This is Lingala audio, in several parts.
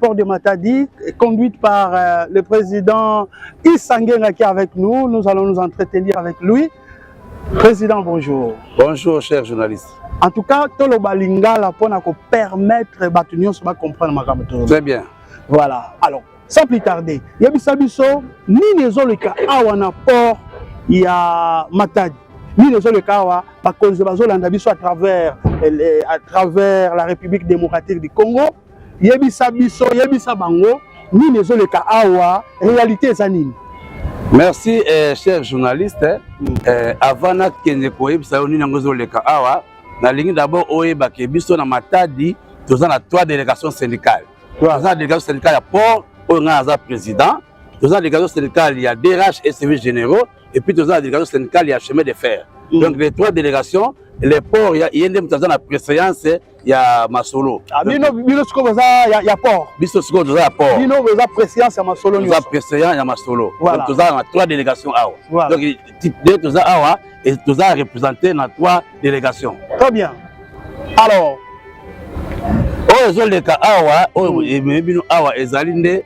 Port de Matadi, conduite par euh, le président Issangenga qui est avec nous. Nous allons nous entretenir avec lui. Président, bonjour. Bonjour, cher journaliste. En tout cas, toloba lingala pour permettre batu nyonso ba comprendre makambo to. Très bien. Voilà. Alors, sans plus tarder, yebisa biso nini ezoleka awa na port ya Matadi. Nini ezoleka awa bakonzi bazolanda biso à travers eh, à travers la République démocratique du Congo yebisa biso yebisa bango nini ezoleka awa réalité eza nini merci eh, cher journaliste eh, mm. eh, avant nakende koyebisa yo nini yango ezoleka awa nalingi d'abord oyeba ke biso na matadi toza na trois délégation syndicale toza na délégation syndicale ya port oyo ngai naza président toza na délégation syndicale ya drh et service généraux et puis toza na délégation syndicale ya chemin de fer mm. donc les trois délégations le port ye nde moto aza na préséance ya masolo ah, bino bino sikoyo boza ya, ya port biso sikoyo toza ya port bino boza présidence ya masolo toza président ya masolo voilà. donc toza na trois délégation awa voilà. donc de toza awa et toza représenté na trois délégation très bien alors oyo ezoleka awa oyo mm. ememi bino awa ezali nde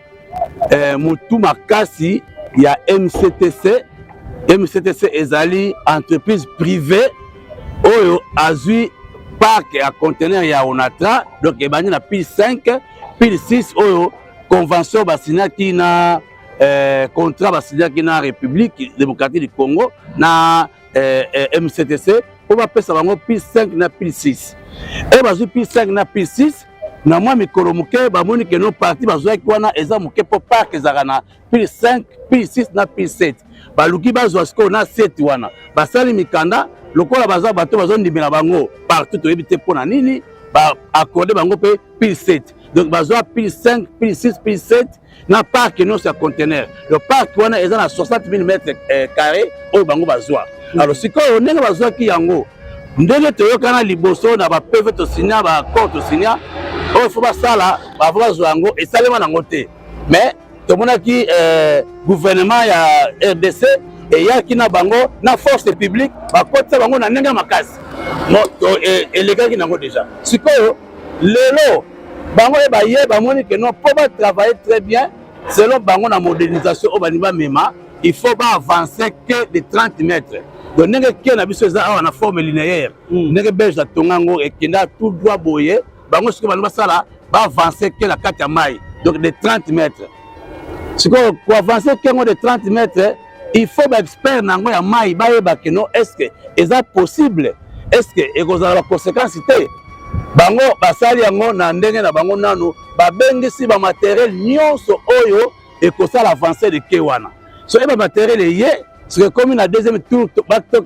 eh, motu makasi ya mctc mctc ezali entreprise privée oyo azwi parc ya conteneur ya onatra donc ebandi na pile 5 pile 6 oyo convention basignaki na eh, contrat basignaki na république démocratique du congo na eh, eh, mctc mpo bapesa bango pile 5 na pile 6 oyo bazwi pile 5 na pile 6 na mwa mikolo moke bamoni ke no parti bazwaki wana eza moke mpo park ezalaka na pile 5 pile 6 na pile 7 baluki bazwa sikoyo na 7 wana basali mikanda lokola baza bato bazondimela bango partout toyebi te mpo na nini baakorde bango mpe pile 7 donc bazwa pile 5 pile 6 pile 7 na parc nyonso ya contenaire le parc wana eza na 60 000 mètre eh, carré oyo bango bazwa mm. alors sikoyo ndenge bazwaki yango ndenge toyokana liboso na bapeve tosinya baaccord tosinya oyo fo basala bavo bazwa yango esalema nango te mais tomonaki eh, gouvernement ya rdc eyaki na bango na force publique bakotisa bango na ndenge ya makasi e, elekaki nango deja sikoyo lelo bango ye baye bamoni ke non mpo batravaille très bien selon bango na modernisation oyo balingi bamema il faut baavancer ke de 30 mètres donc ndenge ke na biso eza awa na forme linéaire hmm. ndenge belge atonga yango ekenda tout droit boye bango sikoyo balingi basala baavancer ke na kati ya mai donc de 30 mètres sikoyo koavancer ke yango de 30 mètres il faut ba expert na yango ya mayi bayeba kino eske eza possible eske ekozala ba conséquence te bango basali yango na ndenge na bango nanu babengisi bamateriel nyonso oyo ekosala avance de ke wana soki bamateriel eye soki ekomi na deuxième tour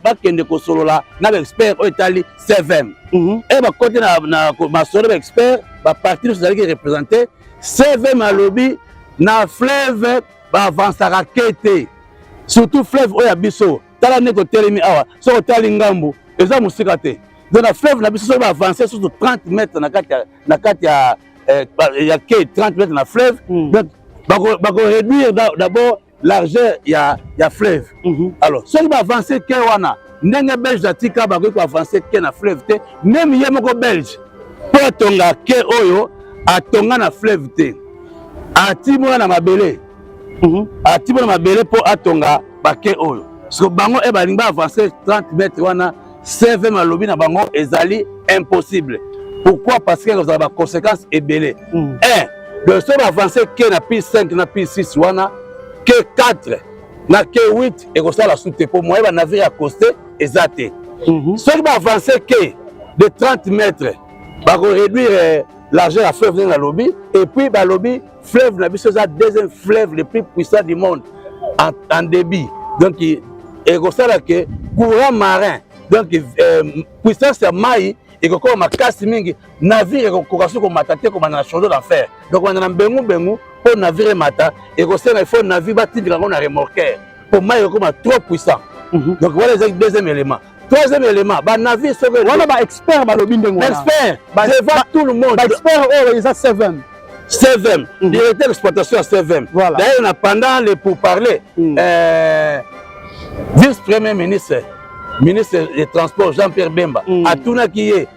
bakende kosolola na baexpert oyo etali cvm mhm. e bakoti na masolo baexpert baparti nyonso ezalaki représente cvm alobi na fleuve baavansaka ke te surtout fleuve oyo ya biso tala ndenge totelemi awa soki otali ngambu eza mosika te donc na fleuve na biso soki baavanse susu 30 mètre na kati ya, na kati ya, eh, ya ke 30 mètre na fleuve mm. donc bakoréduire bako d'abord largeur ya, ya fleuve mm -hmm. alors soki baavanse ke wana ndenge belge atika bakoki koavanse ke na fleuve te meme ye moko belge mpo atonga ke oyo atonga na fleuve te atimona na mabele mhm. atimona na mabele mpo atonga bake oyo siko bango e balingi baavanse 30 mètre wana cvm alobi na bango ezali impossible pourquoi parce que ekozala baconséquence ebele mhm. un de so baavanse ke na pi 5 na pi 6 wana ke 4 na ke 8 ekosala su te mpo moye banavire ya coste eza te mhm. soki baavance ke de 30 mètre bakoréduire euh, l'argent ya fleuve ndenge nalobi et puis balobi fleuve na biso eza deuxième fleuve le plus puissant du monde en, en débit donc ekosala ke courant marin donc euh, puissance ya mai ekokoma makasi mingi navire ekokoka soki komata te kobanda na shodo na fer donc banda na mbengu mbengu mpo navire emata ekosenga ifo navire batindika yango na remorquer mpo mai ekokoma trop puissant mhm. donc wana ezaki deuxième élément troisième élément banavire soki wana baexpert balobi ndenge expert devant tout le monde baexpert oyo eza seven CVM, mhm. directeur d'exploitation à CVM. Voilà. D'ailleurs, pendant les pourparlers, mm. euh, vice-premier ministre, ministre des Transports, Jean-Pierre Bemba, mm. a tout qui est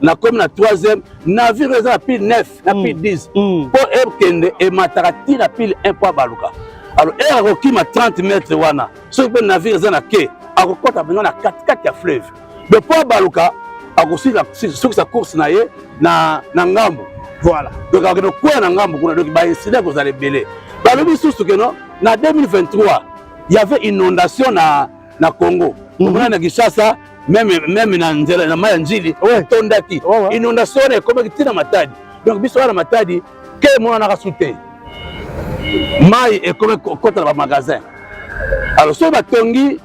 na komi na troisième navire eza na pile 9 na pile 10 mpo ekende emataka ti na pile 1 mpo abaluka alors ere akokima 30 mètre wana soki mpe navire eza na ke akokɔta mpenza na katikati ya fleuve de mpo abaluka akosukisa course na ye na ngambo voilà donc akokende kokwea na ngambo kuna donc baincident ekozala ebele balobi lisusu keno na 2023 y avait inondation na na Congo mhm. omona na Kinshasa meme meme na nzela na mayi ya njili etondaki inondation wana ekomaki ntina matadi donc biso wana matadi ke emonanaka su te mayi ekomi kokota na bamagasin alors soki batongi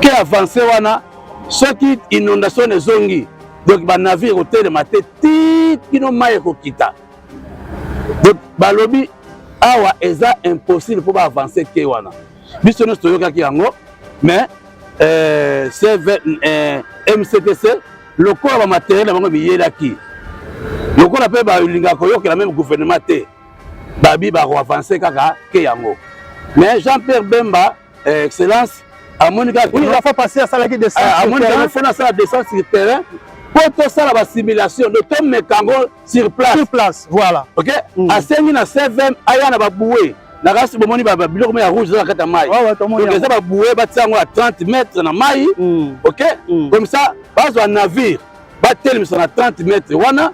ke avance wana soki inondation ezongi donc banavire ekotelema te ti kino mai ekokita donc balobi awa eza impossible mpo baavance ke wana biso nyonso toyokaki yango mais euh, CV, euh, mctc lokola bamateriel na bango biyelaki lokola mpe balingaka koyokela meme gouvernement te babi bakoavanse kaka ke yango mais jean pierre bemba euh, excellence amoni kakafapasi asalaki amoni kaka fona asala descente sur terrain mpo tosala basimulation de tomeka yango sur place sur place voilà ok mm. asengi na cvm aya na baboue na kasi bomoni biloko mai ya rouge eza na kati ya mai donc eza baboue batia yango ya 30 mètre na mai mm. ok mm. comme ça bazwa navire batelemisa na 30 mètre wana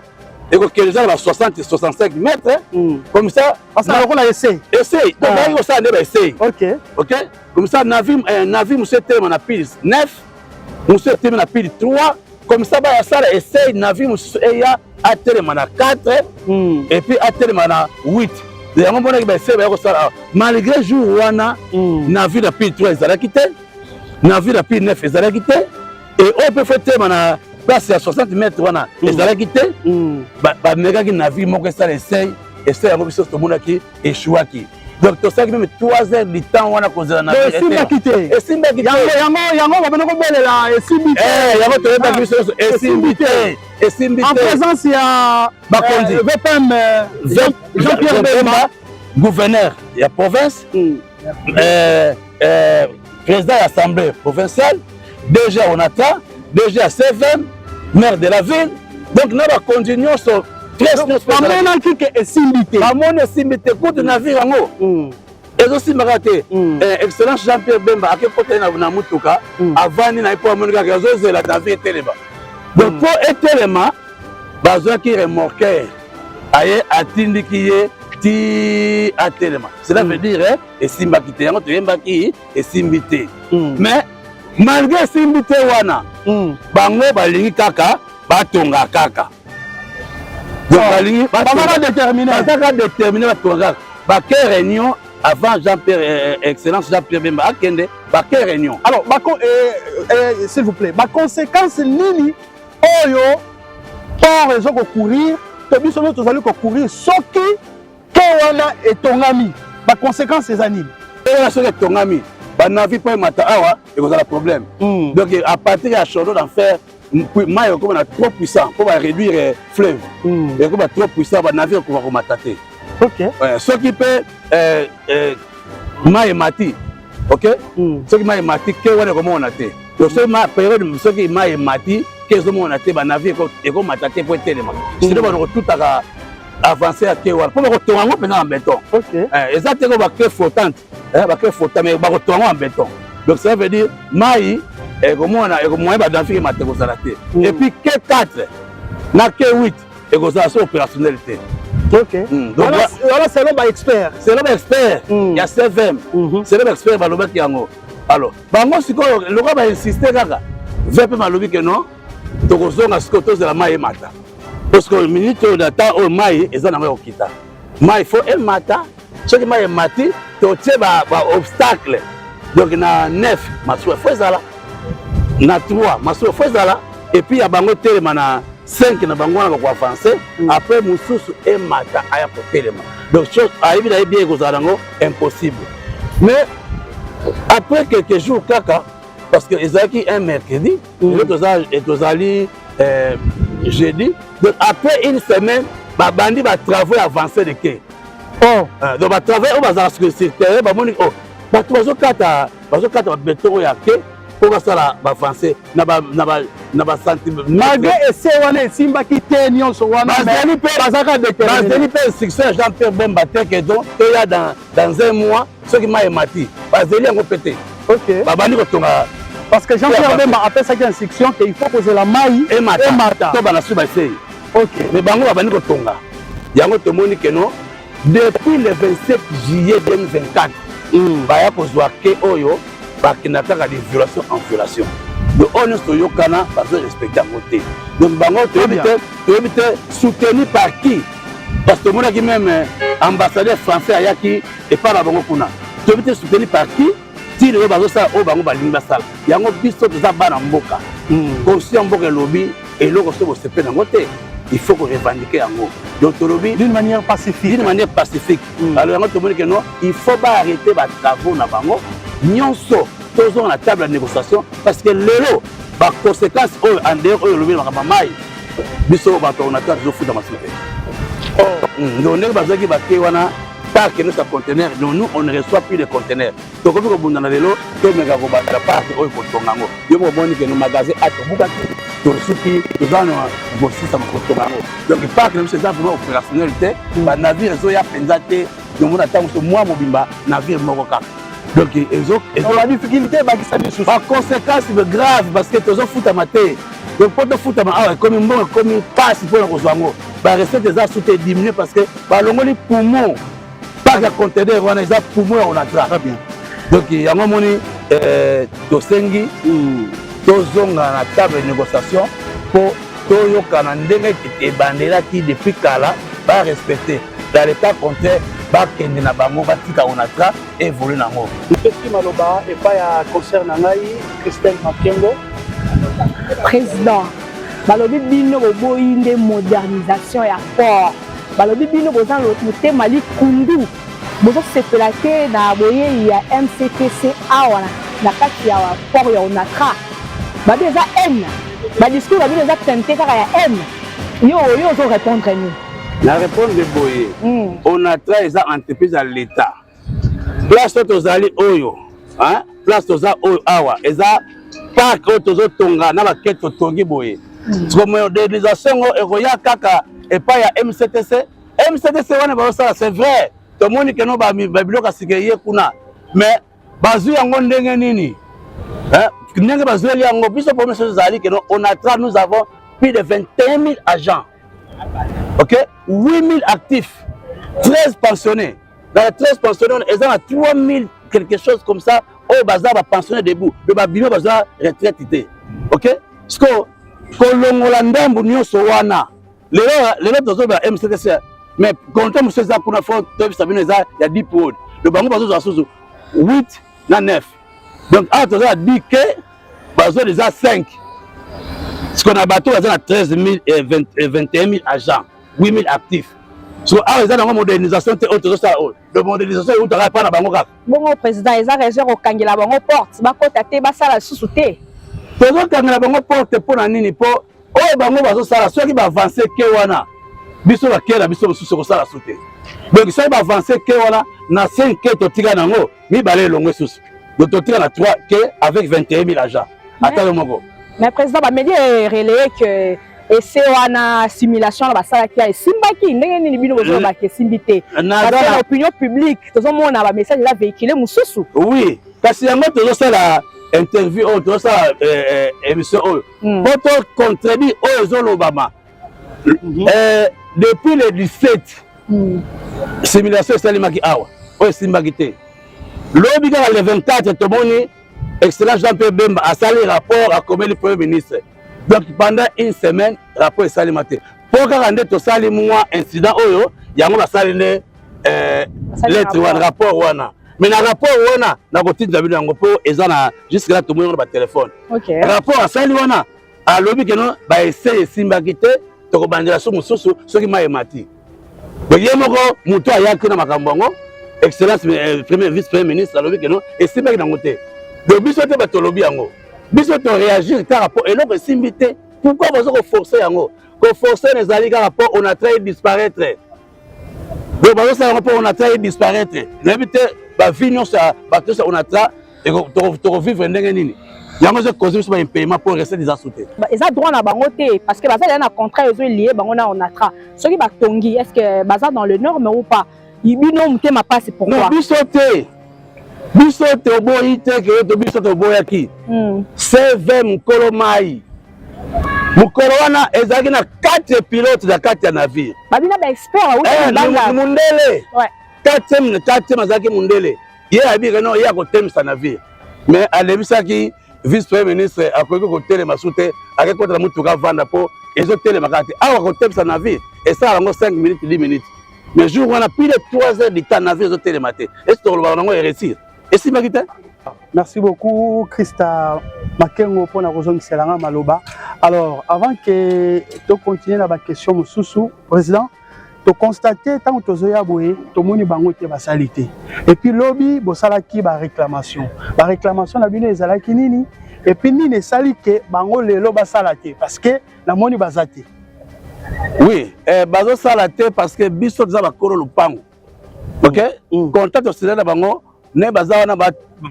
ekokende eza na ba 60 65 mètre mm. comme ça basala lokola essai essai donc ah. bayaki kosala nde ba essai ok ok comme ça navire eh, mosusu etelema na pise 9 mosusu etemi na pili 3 comme ça baya sala essaye na vie mosusu eya atelema na 4 mm. et puis atelema na 8 yango monaki baessaye baya kosala awa malgré jour wana mm. na vie na pili 3 ezalaki te na vie na pili 9 ezalaki te e oyo mpe fo telema na place ya 60 mètre wana mm. ezalaki te mm. bamekaki na vie moko esala essaye essaye yango biso tomonaki echouaki donc tosalaki meme 3 heures du temps wana kozela na esimbaki te esimbaki te yango yango babana kobelela esimbi te eh, yango toyebaki ah, biso nyonso esimbi te esimbi te en présence ya bakonzi eh, vpm eh, jean pierre bemba gouverneur ya province hmm. eh, eh, président ya assemblée provinciale dg ya onatra dg ya cvm maire de la ville donc na bakonzi nyonso bamonaki ke esimbi te bamoni esimbi te kutu na vie yango hmm. ezosimbaka te hmm. eh, excellence jean pierre bemba akekota ye na motuka hmm. avandi na ye mpo amoni kaka azozela na vie etelema donc mpo etelema bazwaki remorquer aye atindiki ye ti atelema cela veut mm. dire eh, esimbaki te yango toyembaki esimbi te mm. mais malgré esimbi te wana mm. bango balingi kaka batonga kaka donc oh. balingi bazaka détermine bazaka détermine batonga kaka bake réunion avant jean pierre euh, euh, excellence jean pierre bemba akende bake réunion alors bako euh, euh, s'il vous plaît baconséquence nini oyo port ezo ko courir to biso nde tozali ko courir soki ke wana etongami ba conséquences eza nini wana soki etongami banavi mpo emata awa ekozala problème hmm. donc à partir ya chaudo d'en faire mai ekokoma na trop puissant mpo ba réduire eh, fleuve hmm. ekokoma trop puissant banavi ekoka komata te soki mpe eh, eh, mai emati ok hmm. soki mai emati ke wana ekomona te donc soki ma periode soki mai emati ke ezomona te banavi ekomata te mpo etelema hmm. sino bana kotutaka avance ya ke wana mpo bakotonga yango mpenza na beton eh, eza te ko bacre flottante eh, bacre flotta mais bakotonga yango na beton donc ça veut dire mai ekomona ekomoye badanfike mate kozala te hmm. epuis ke 4 na ke 8 ekozala so opérationnel te hmm, wana selon baexpert selon baexpert hmm. ya cvm mhm. selon baexpert balobaki yango alors bango sikoyo lokola bainsiste kaka vpm alobi ke non tokozonga sikoyo tozela mai emata po sikoyo minute oyo na temps oyo mai eza nango ya kokita mai fo emata soki mai emati totie baobstacle donc na 9 masuwa fo ezala na 3 masuwa fo ezala epuis ya bango etelema na 5 na bango wana bakoavanse mm. après mosusu emata aya kotelema donc ayebi na ye bien ekozala yango impossible mais après quelques jours kaka parce que ezalaki un mercredi mm. et tozali euh, jeudi donc après une semaine babandi batravaux avancé de ke oh eh, donc ba travail oyo bazala sur sur terrain ba moni oh bato bazokata bazokata babeton oyo ya ke mpo basala bafrançais na basantimalgré ese wana esimbaki te nyonso wanabazali mpe instruction ya jean pierre bemba te ke don eya dans un mois soki mai emati bazeli yango mpe te babandi kotonga parce que jean pierre bemba apesaki instruction ke il faut kozela mai emata to bana suba esei me bango babandi kotonga yango tomoni keno depuis le 27 juillet 2024 hmm. baya kozwa ke oyo bakenda kaka de violation en violation donc oyo nyonso toyokana bazo respecte yango te donc bango toyebi te toyebi te soutenu par qui parce que tomonaki meme ambassadeur français ayaki epai na bango kuna toyebi te soutenu par qui ti lelo bazosala oyo bango balingi basala yango biso toza bana mboka hmm. konsi ya mboka elobi eloko soki bosepe nango te il faut ko revendiquer yango donc tolobi d'une manière pacifique d'une manière pacifique hmm. alors yango tomoni ke non il faut ba arrêter ba travaux na bango nyonso tozonga na table ya négociation parce que lelo ba conséquences oyo en dehors oyo olobi makambo mai biso bato ordinateur tozofuta masuku te oh. hmm. donc ndenge bazwaki bake wana parc nyonso ya contener donc nous on ne reçoit plus de contener tokomi kobundana lelo tomeka kobanda parc oyo kotonga yango yo moko omoni ke no magasin a tobukaki tosuki toza na kosusa kotonga yango donc parc na biso eza vraiment opérationnel te mm. banavire ezoya mpenza te nomona ntango so mwa mobimba navire moko kaka donc ezoba difficulté ebakisa lisusu baconséquence grave parce que tozofutama te donc mpo tofutama awa ekomi mbongo ekomi mpasi mpo na kozwa yango ba recette eza sous te diminuer parce que ba longoli poumon pas ya conteneur wana eza poumon ya onatra très bien donc yango moni euh, tosengi hmm. tozonga na table de négociation mpo toyokana ndenge ebandelaki depuis kala ba respecter dans l'état contraire bakende na bango batika onatra evolue nango epesi maloba epai ya concert na ngai christelle makengo président balobi bino boboyi nde modernisation ya port balobi bino boza motema likundu bozosepela te na boyei ya mctc awa na kati ya port ya onatra babi eza haine badiscours babino eza tente kaka ya haine yo oyo ozo répondre nini na répondre boye hmm. onatra eza entreprise ya l'état place oyo tozali oyo place toza oyo awa eza park oyo tozotonga na bakete totongi boye hmm. siko modernisation yango ekoya kaka epai ya mctc mctc wana bazosala c'est vrai tomoni keno babiloko ya sika eye kuna mais bazwi yango ndenge nini ndenge bazweli yango biso problème soki ezali keno onatra nous avons plus de 21 000 agents ok 8 000 actifs 13 pensionnés na la tres pensionnaire eza na 3000 quelque chose comme ça oyo baza bapensionnaire debout me babima baza retraite te ok sikoyo kolongola ndambo nyonso wana lelo lelo tozoloba mctc mais contrat mosusu eza kuna fo toyebisa bino eza ya deep wod donc bango bazozwa susu 8 na 9 donc awa toza na dike bazwa deja 5 sikoyo na bato baza na 13 000 21 000 agents 8000 actifs so awa eza nango modernisation te oyo tozosala oyo donc modernisation eutaka epai na bango kaka bongo président eza raison ya kokangela bango porte bakota te basala lisusu te tozokangela bango porte mpo na nini mpo oyo bango bazosala soki baavance ke wana biso bakei na biso mosusu ekosala su te donc soki baavance ke wana na 5 ke totika na yango mibale elongo esusu donc totika na 3 ke avec 21 000 agents ata yo moko mais président bameli relaye que ese wana simulation wana basalaki ya esimbaki ndenge nini bino bozolobaka eh, esimbi te eh, na opinion publique tozomona bamessage eza véhicule mosusu oui kasi yango tozosala interview oyo tozosala eh, émission oyo hmm. po to contredit oyo ezolobama mhm. depuis le 17 hmm. simulation esalemaki awa oyo esimbaki te lobi kaka le 24 tomoni excellence jean pierre bemba asali rapport akomeli premier ministre donc pendant une semaine rapport esalema te mpo kaka nde tosali mwa incident oyo yango basali nde eh, lettre wana rapport wana mais na rapport wana nakotinda bino yango mpo eza na jusque là tomoni yango na batelefone rapport asali wana alobi keno ba essai esimbaki te tokobandela so mosusu soki mai emati boye moko motu ayaki na makambo yango excellence eh, premier vice premier ministre alobi keno esimbaki nango te donc biso te bato tolobi yango biso toréagir kaka mpo eloko esimbi te pourkui baza koforce yango koforce na ezali kaka mpo on a trai disparaître donc bazosala yango mpo onatra ye disparaitre nayebi te bavie nyonso ya bato nyonso ya onatra tokovivre ndenge nini yango ezo cause biso baimpayement mpo recette eza su te eza droit na bango te parce que baza deya na contrat ezo lie bango na onatra soki batongi est ce que baza dans le norme ou pas bino motema mpasi pourquoi biso te biso toboyi te ke to biso toboyaki hmm. cv mokolo mai mokolo wana ezalaki na quatre pilote na kati ya navire babina baexpertmundele eh, quatrième quatrième azalaki mundele ye abika no ye akotemisa navire mais alebisaki vice premier ministre akoki kotelema su te akei kotala motuka avanda mpo ezotelema kaka te awa kotemisa navire esala yango 5 minutes 10 minutes mais jour wana pile 3 heures du temps navire ezotelema te esi tokolobaka nango eresir esimbaki te merci beaucoup christa makengo mpo na kozongisela nga maloba alors avant ke tocontinue na baquestion mosusu président tokonstate ntango tozoya boye tomoni bango te basali te epuis lobi bosalaki baréclamation baréclamation na bino ezalaki nini epuis nini esali ke bango lelo basala te parce que namoni baza te oui eh, bazosala te parce que biso toza bakolo lopango ok mm. contact osila na bango ne baza wana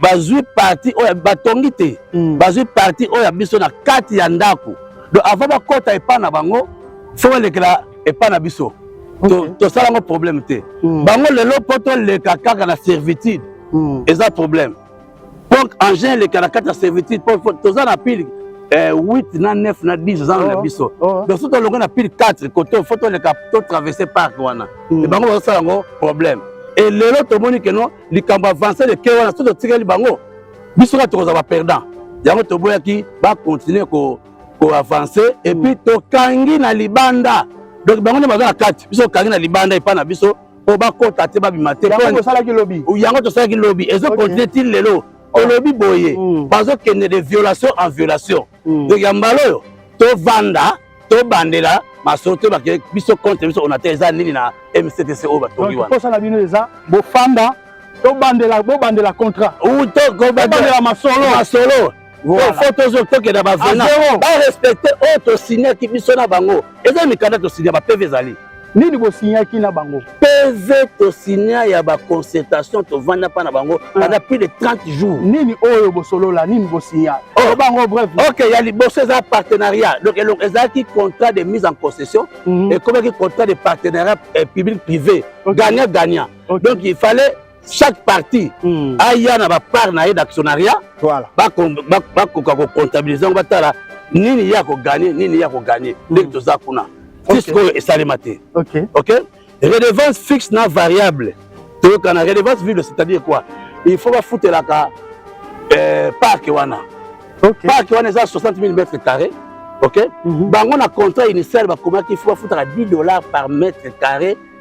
bazwi parti oyo batongi te mm. bazwi parti oyo ya biso na kati ya ndako donc avant bakɔta epai na bango fo balekela epai na biso tosala yango problème te mm. bango lelo mpo toleka kaka na servitude eza problème donc engin eleka na kati ya servitude po toza na pile 8 eh, na 9 na 10 oza na oh, biso oh, oh. donc so tolonga na pile 4 kote fo toleka totraverse parc wana hmm. e bango bazosala yango problème e lelo tomoni keno likambo avance leke wana so totikeli bango biso kaka tokozala baperdant yango toboyaki bakontinue koavance epuis hmm. tokangi na libanda donc bango nde baza na kati biso tokangi na libanda epai na biso po bakota te babima te yango tosalaki lobi yango tosalaki lobi ezo continue ti lelo olobi boye mm. bazokende de violation en violation mm. donc ya mbala oyo tovanda tobandela masolo te bakende biso contre biso ona te eza nini na mctc oyo batongi wana posa na bino eza bofanda tobandela bobandela contrat ou tobandela masolo masolo fo tokenda bavena barespecte oyo oh, tosignaki biso na bango eza mikanda tosigna bapeve ezali nini bosignaki na bango pv tosigna ya baconsultation tovanda mpa na bango ah. banda plus de 30 jours nini oyo bosolola nini bosigna oh. bango bref ok ya liboso eza partenariat donc elongo ezalaki contrat de mise en concession mhm. ekomaki contrat de partenariat eh, public privé gagnant gagnant donc il fallait chaque parti mm. aya na bapart na ye d'actionnariat voilà. bakoka kocomptabilise yango batala nini ye akoganye nini ye akoganye mm. ndenge toza kuna ti sikoyo esalema te ok redevance fixe na variable toyokana redevance vible c'est-à-dire quoi il faut bafutelaka euh, parke wana okay. parke wana eza 60 000 mètre carré ok mm -hmm. bango na contrat initial bakomaki il faut bafutaka 10 dollars par mètre carré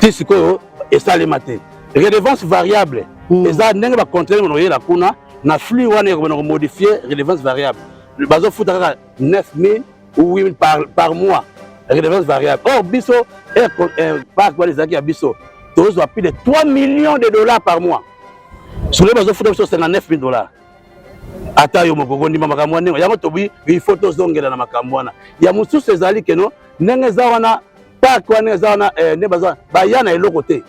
ti sikoyo esalema te redevance variable mm. eza ndenge bacontrele mona oyela kuna na flux wana ekobana komodifie redevance variable bazofuta kaka 9000 ou 8000 par, par mois redevance variable or biso eh, eh, parc wana ezalaki ya biso tozwa plus de 3 millions de dollars par mois solo bazofuta biso 59 000 dollars ata yo moko kondima makambo wana yango tobi il faut tozongela na makambo wana ya mosusu ezali keno ndenge eza wana park wana eza wana eh, nde baza baya na eloko te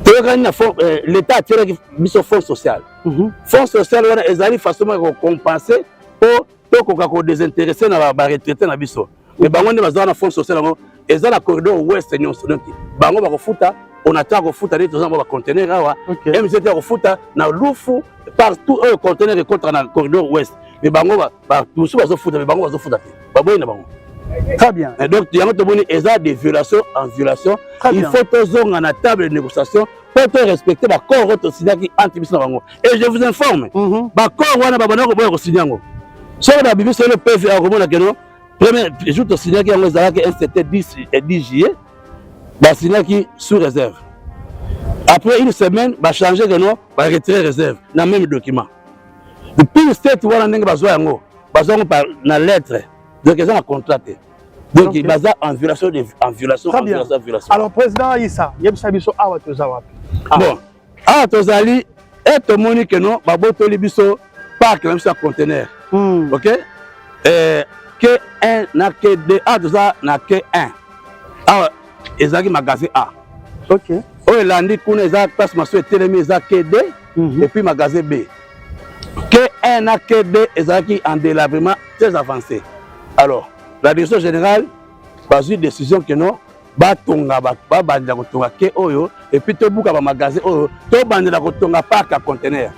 toyokani na eh, l'état atyelaki biso fonds social mhm. fonds social wana ezali façon moko ya kocompense mpo tokoka kodesinteresse na baretraite na biso me mhm. bango nde baza wana fonds social yango eza na corridor ouest nyonso donc bango bakofuta onataka kofuta nde toza na bacontener awa mgt akofuta na lufu partout oyo conteneur ekotaka na corridor ouest me bango mosusu bazofuta me bango bazofuta te baboyi na bango très bien et donc yango tomoni eza de violation en violation il faut tozonga na table de négociation mpo torespecte bacor oyo tosignaki entre biso na bango et je vous informe mhm. bacor wana babanda koboya kosigne yango soki babimi solo pv akomona keno premier jour tosignaki yango ezalaki nct 10 et 10 juillet basignaki sous réserve après une semaine bachange keno ba retrait reserve na meme document pire state wana ndenge bazwa yango bazwa yango na lettre donc eza na contrat te donc okay. baza en violation de en violation en violation en violation alors président Issa yebisa biso awa toza wapi ah. bon awa tozali e tomoni ke no babotoli biso parc na biso ya conteneur mm. ok eh, k1 na k2 awa toza na k1 awa ezalaki magasin A. Okay. Oyo elandi kuna eza place maso etelemi eza KD mm -hmm. et puis magasin B. K1 na KD ezalaki en délabrement très avancé. Alors, la direction générale bazwi décision que non batonga babandela kotonga ke oyo epuis tobuka bamagasin oyo tobandela kotonga parc ya contenaire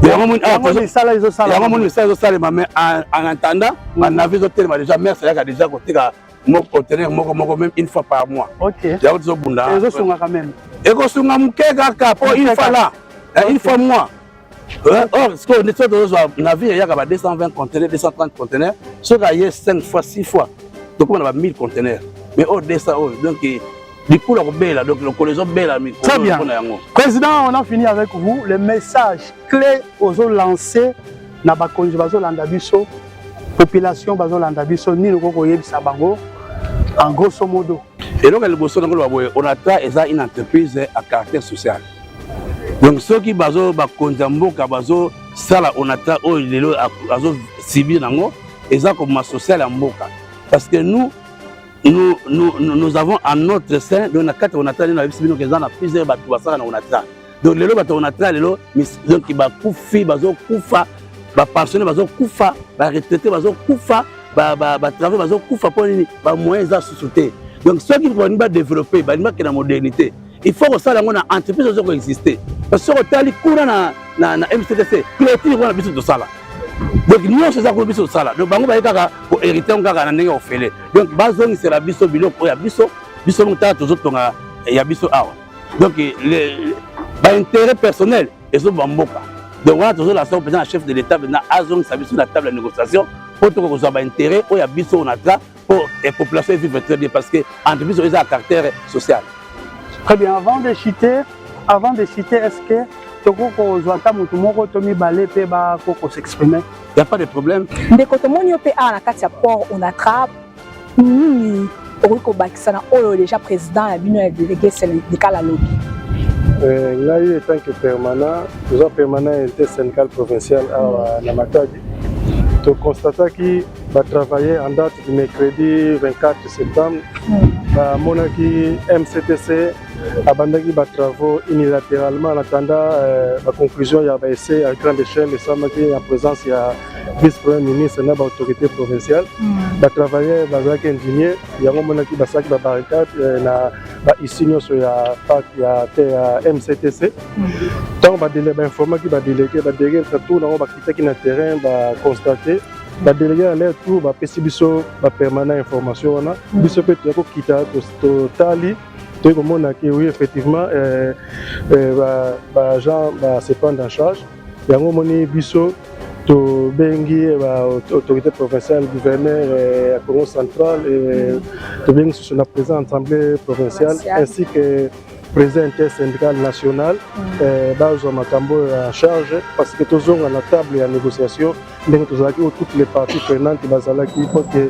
yango moni misala ezosalema mais en attendant banavi ezotelema déjà mers ayaka déjà koteka moko conteneur moko moko même une fois par mois okay. yango tozobunda ezosungaka meme ekosunga moke kaka mpo une fois là eh, une fois mois eh, or sikoyo nde soki tozozwa na vie eyaka ba 220 conteneur 230 conteneur soki aye 5 fois 6 fois tokoma na ba 1000 conteneur mais oyo 200 oyo donc likula kobela donc lokolo ezobela mikolo na yango président on a fini avec vous le message clé ozolancer na bakonzi bazolanda biso population bazolanda biso nini okoki koyebisa bango en grosso modo eloko ya liboso na koloba boye onatra eza une entreprise à caractère social donc soki bazo bakonzi ya mboka bazosala onatra oyo lelo azosibir yango eza koboma social ya mboka parce que nous nous, nous, nous avons en notre sein donc na kati ya onatra nde nayebisi bino ke eza na plusieurs bato basala na onatra donc lelo bato na tra lelo donc bakufi bazokufa bapensionne bazokufa baretraite bazokufa batravail bazokufa mpo nini bamoyen eza susu te donc soki balingi badeveloppe balingi bakenda modernité il faut kosala yango na entreprise ozo koexiste parce soki otali kuna na, na, na mctc clotire wana biso tosala donc nyonso eza kuna biso tosala donc bango baye kaka koherite yango kaka na ndenge ya ofele donc bazongisela biso biloko oyo ya biso biso moko tala tozotonga ya biso awa donc ba intérêt personnel ezoba mboka donc wana tozolasa yango mpenza na chef de l'état mpenza azongisa biso na table ya négociation mpo tokoka kozwa baintérêt oyo ya biso oyo na tra mpo eh, population evivre très bien parce que entreprise oyo eza ya caractère social très bien avant de chiter avant de chiter est ce que tokoki kozwa ata motu moko to mibale mpe bakoki kosexprime ya pas de problème ndeko tomoni yo mpe awa na kati ya port onatra nini okoki kobakisa na oyo deja président ya bino ya délégué syndical alobi eh, ngai etant que permanent toza permanent ya unité syndical provincial awa na matadi toconstataki batravaille en date du mercredi 24 septembre hmm. bamonaki mctc abandaki ba travaux unilateralement en attendant euh, ba conclusion ya ba essai ya grande échelle esalamaki en présence ya vice premier ministre na ba autorité provinciale mm. ba travailleurs bazalaki indigne yango monaki basalaki ba barricade euh, na ba isi nyonso ya parc ya te ya mctc ntango mm. bainformaki ba délégué ba délégué tour nango bakitaki na terrain ba constate badélege ya ler tour bapesi biso bapermanent information wana mm. biso mpe toya kokita totali toyei komona ke oui effectivement euh, euh, baagent base prendre en charge yango omoni biso tobengi eh, baautorité provinciale gouverneur eh, ya congo central eh, tobengi susu na président assemblée provinciale ainsi que président inter syndical national mm. bazwa makambo oyo ya charge parce que tozonga na table ya négociation ndenge tozalaki o toutes les parties prenantes bazalaki pote